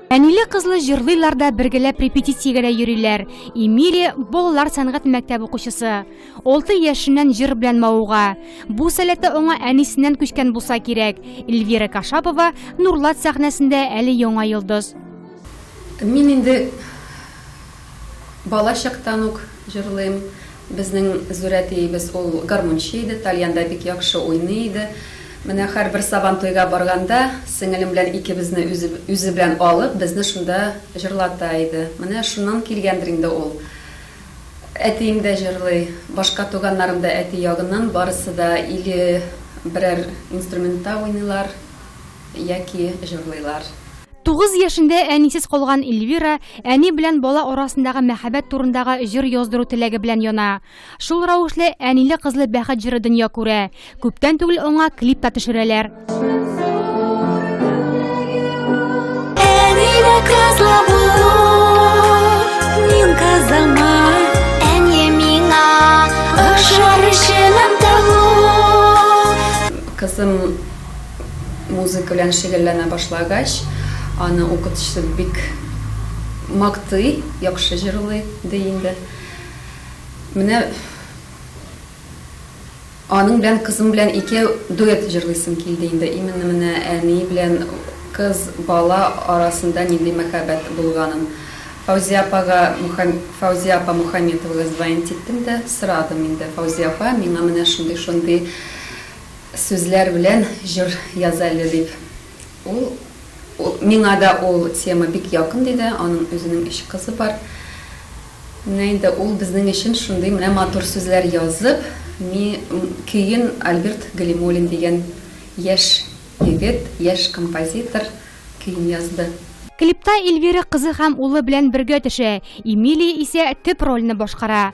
Әниле-кызлы җырлыйлар да бергәләп репетициягә дә йөриләр. Эмилия балалар сәнгать мәктәбе укучысы. 6 яшеннән җыр белән мавыга. Бу сәләте аңа әнисеннән күчкән булса кирәк. Эльвира Кашапова Нурлат сәхнәсендә әле яңа йолдыз. Мин инде Бала чактан ук җырлыйм. Безнең зур әтиебез ул гармунчы иде, тальянда бик яхшы уйный иде. Менә һәрбер Сабан туйга барганда, сеңелем белән икебезне үзе үзе белән алып, безне шунда җырлата иде. Менә шуннан килгәндер инде ул. Әтием дә җырлый, башка туганнарым да әти ягыннан барысы да или берәр инструментта уйныйлар, яки җырлыйлар. Тугыз яшендә әнисез калган Эльвира әни белән бала арасындагы мәхәббәт турындагы җыр яздыру теләге белән яна. Шул рәвешле Әниле-кызлы бәхет җыры дөнья күрә. Күптән түгел аңа клип та төшерәләр. музыка белән шөгыльләнә башлагач, аны укытучысы бик мактый, яхшы җырлый, ди инде. Менә аның белән, кызым белән икәү дуэт җырлыйсым килде инде. Именно менә әни белән кыз, бала арасында нинди мәхәббәт булганын. Фаузия апага, Фаузия апа Мухаметовага звонить иттем дә сорадым инде, Фаузия апа, миңа менә шундый-шундый. Сүзләр белән җыр яз әле, дип, ул Миңа да ул тема бик якын, диде. Аның үзенең өч кызы бар. Менә инде ул безнең өчен шундый менә матур сүзләр язып, ми көен Альберт Галимуллин дигән яшь егет, яшь композитор көен язды. Клипта Эльвира кызы һәм улы белән бергә төшә, Эмилия исә төп рольне башкара.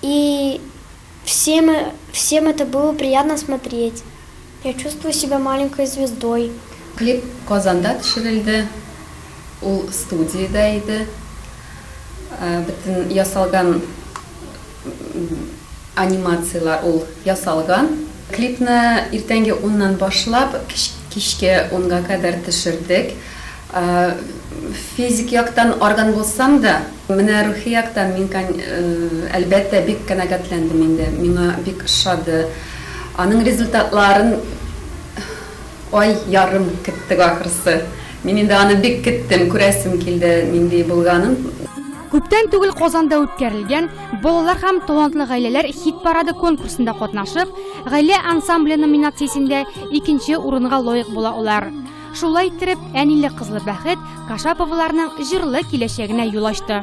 И всем всем это было приятно смотреть. Я чувствую себя маленькой звездой. Клип Казанда төшерелде, ул студиядә иде. Бөтен ясалган анимацияләр ул ясалган. Клипны иртәнге уннан башлап, кичке унга кадәр төшердек. Физик яктан арган булсам да, менә рухи яктан мин, әлбәттә, бик канәгатьләндем инде. Миңа бик ошады. Аның результатларын ай ярым көттек ахрысы. Мин инде аны бик көттем, күрәсем килде нинди булганын. Күптән түгел Казанда үткәрелгән Балалар һәм талантлы гаиләләр хит-парады конкурсында катнашып, Гаилә ансамбле номинациясендә икенче урынга лаек була алар. Шулай иттереп, әниле-кызлы бәхет Кашаповларның җырлы киләчәгенә юл ачты.